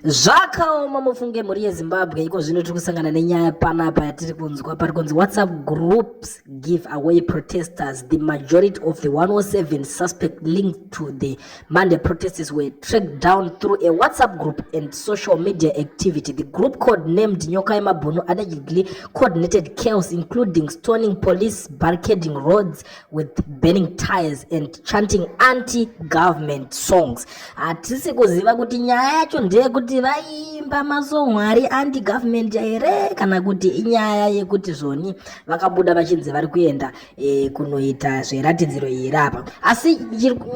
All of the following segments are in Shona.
zvakaoma mufunge mhuri yezimbabwe iko zvino tiri kusangana nenyaya panapa yatiri kunzwa pari kunzi whatsapp groups give away protesters the majority of the 107 suspect linked to the monday protests were tracked down through a whatsapp group and social media activity the group code named nyoka yemabhunu allegedly coordinated chaos including stoning police barricading roads with burning tires and chanting anti government songs hatisi kuziva kuti nyaya yacho ndeyekuti vaiimba masongo ari anti government here kana kuti inyaya yekuti zvoni vakabuda vachinzi vari kuenda e, kunoita zveratidziro iri apa asi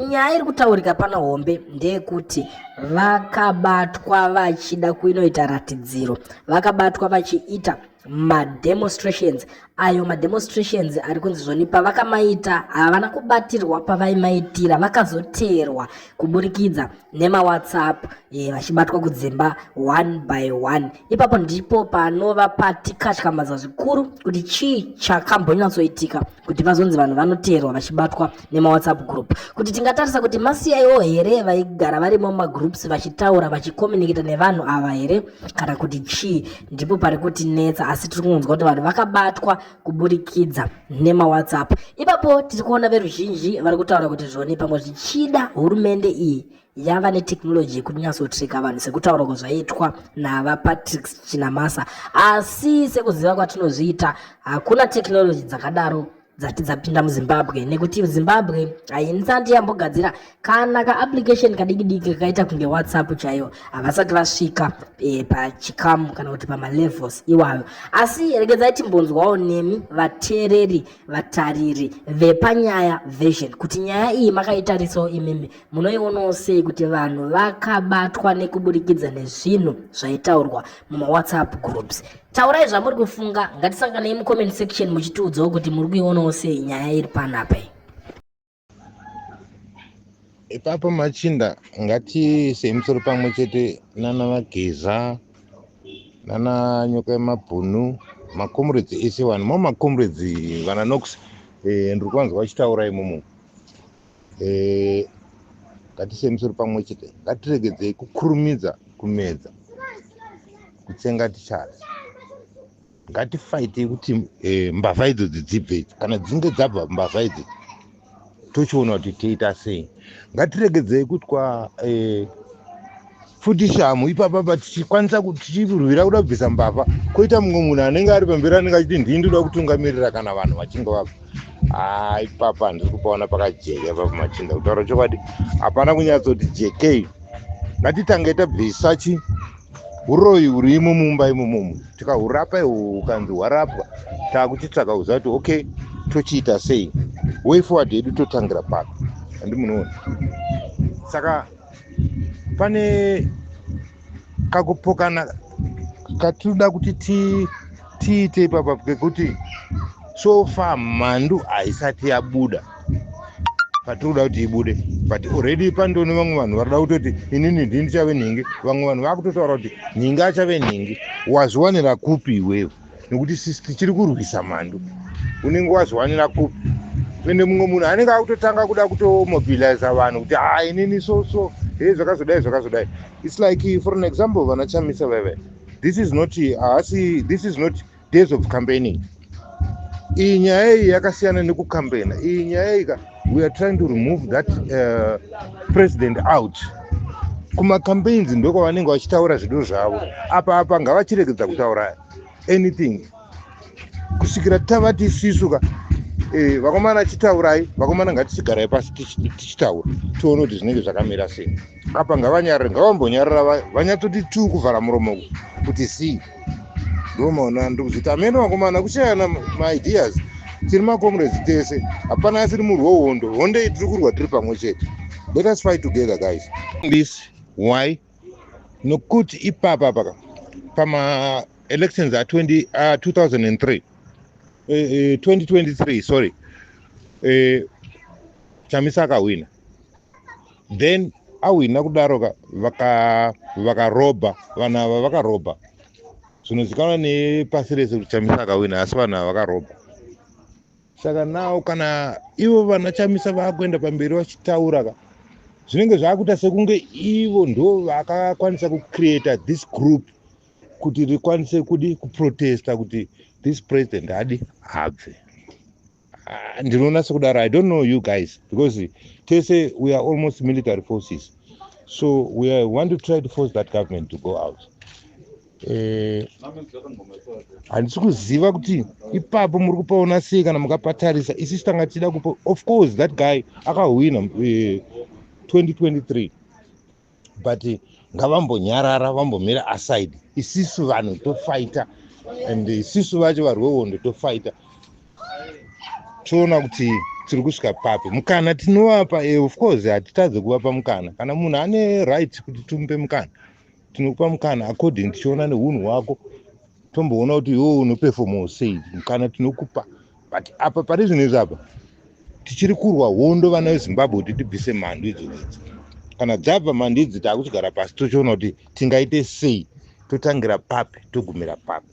nyaya iri kutaurika pano hombe ndeyekuti vakabatwa vachida kuinoita ratidziro vakabatwa vachiita mademonstrations ayo mademonstrations ari kunzi zvoni pavakamaita havana kubatirwa pavaimaitira vakazoteerwa kuburikidza nemawhatsapp e, vachibatwa kudzimba one by one ipapo ndipo panova patikatyamadzwa zvikuru kuti chii chakambonyatsoitika kuti vazonzi vanhu vanoteerwa vachibatwa nemawhatsapp group kuti tingatarisa kuti masiyaiwo here vaigara varimo mumagroups vachitaura vachicommunicata nevanhu ava here kana kuti chii ndipo pari kutinetsa asi tiri kungonzwa kuti vanhu vakabatwa kuburikidza nemawhatsapp ipapo tiri kuona veruzhinji vari kutaura kuti zvoni pamwe zvichida hurumende iyi yava netechnology yekunyatsotrika vanhu sekutaura kwazvaitwa navapatrick chinamasa asi sekuziva kwatinozviita hakuna technology dzakadaro dzati dzapinda muzimbabwe nekuti zimbabwe hainsati yambogadzira kana kaapplication kadikidiki kakaita kunge whatsapp chaiyo havasati vasvika e, pachikamu kana kuti pamalevels iwayo asi regedzai timbonzwawo nemi vateereri vatariri vepanyaya version kuti nyaya iyi makaitarisiwo imimi Munoionawo sei kuti vanhu vakabatwa nekuburikidza nezvinhu zvaitaurwa mumawhatsapp groups? Taurai zvamuri kufunga, ngatisanganei mucomment section muchitiudzawo kuti muri kuionawo sei nyaya iri panapa iyi. Ipapo machinda ngatiise musoro pamwe chete nana Vageza nana Nyoka Yemabhunu makomrades ese vanhu mo makomrades vana Nox eh, ndiri kuvanzwa vachitaura imomo eh, ngatise misoro pamwe chete ngatiregedzei kukurumidza kumedza kutsenga tichada ngatifaitei kuti eh, mbavha idzo dzidzibve idzi kana dzinge dzabva mbavha idzi tochiona kuti toita sei ngatiregedzei kutwa eh, futi shamhu ipapa but tichikwanisa kuti tichirwira kuda kubvisa mbavha koita mumwe munhu anenge ari pamberi anenge achiti ndii ndoda kutungamirira kana vanhu vachinge vabva haa ipapa handisi kupaona pakajeka ipapa machinda kutaura chokwadi hapana kunyatsoti jekei ngatitange tabvisa chi uroyi hurimo mumba imomomo tikahurapa iho ukanzi hwarapwa taakuchitsvaka kuziva kuti okay tochiita sei way forward yedu totangira papi handimunoona saka pane kakupokana katinoda kuti tiite ipapa kekuti so far mhandu haisati yabuda patiri kuda kuti ibude but already pandione vamwe vanhu varida kutoti inini ndii ndichave nhingi vamwe vanhu vakutotaura kuti nhingi achave nhingi wazviwanira kupi iwewe nekuti sisi tichiri kurwisa mhandu unenge wazviwanira kupi ende mumwe munhu anenge akutotanga kuda kutomobiliza vanhu kuti ha ah, inini so so he zvakazodai zvakazodai its like for an example vana chamisa veve this is not haasi this is not days of campaigning iyi nyaya iyi yakasiyana nekucambaina iyi nyaya iyi ka we are trying to remove that uh, president out kumacampaigns ndokwavanenge vachitaura zvido zvavo apa apa ngavachiregedza kutaura anything kusvikira tavati sisu ka eh, vakomana achitaurai vakomana ngatichigarai pasi tichitaura tione kuti zvinenge zvakamira sei apa ngavanyarare ngavambonyarara vanyatsoti tuu kuvhara muromo kuti sii ndomaona ndiri kuzviti amene vakomana kushayana maideas tiri macomrades tese hapana asiri murwi wehondo hondo iyi tiri kurwa tiri pamwe chete let us fight together guys this why nokuti ipapa paka pamaelections a2003 2023 sorry eh, chamisa akahwina then awina kudaro ka vakarobha vaka vanhu ava vakarobha zvinozikanwa nepasi rese kuti chamisa akawina asi vanhu ava vakarobha saka nawo kana ivo vana chamisa vakuenda pamberi vachitaura ka zvinenge zvakuita sekunge ivo ndo vakakwanisa kucreata this group kuti rikwanise kudi kuprotesta kuti this president adi habve Ah, ndinoona sekudaro i don't know you guys because tese we are almost military forces so we are, want to try to force that government to go out eh, handisi uh, kuziva kuti ipapo muri kupaona sei kana mukapatarisa isisi tanga tichida kupa of course that guy akahwina uh, eh, 2023 but ngavambonyarara vambomira aside isisu vanhu tofaita and isisu vacho vari wehondo tofaita toona kuti tiri kusvika papi mukana tinovapa e of course hatitadze kuvapa mukana kana munhu ane right kuti timupe mukana tinokupa mukana according tichiona nehunhu hwako tomboona kuti iwo unopefomawo sei mukana tinokupa but apa pane zvinhu izvi apa tichiri kurwa hondo vana vezimbabwe kuti tibvise mhandu idzodzi kana dzabva mhandu idzi taakuchigara pasi tochiona kuti tingaite sei totangira papi togumira papi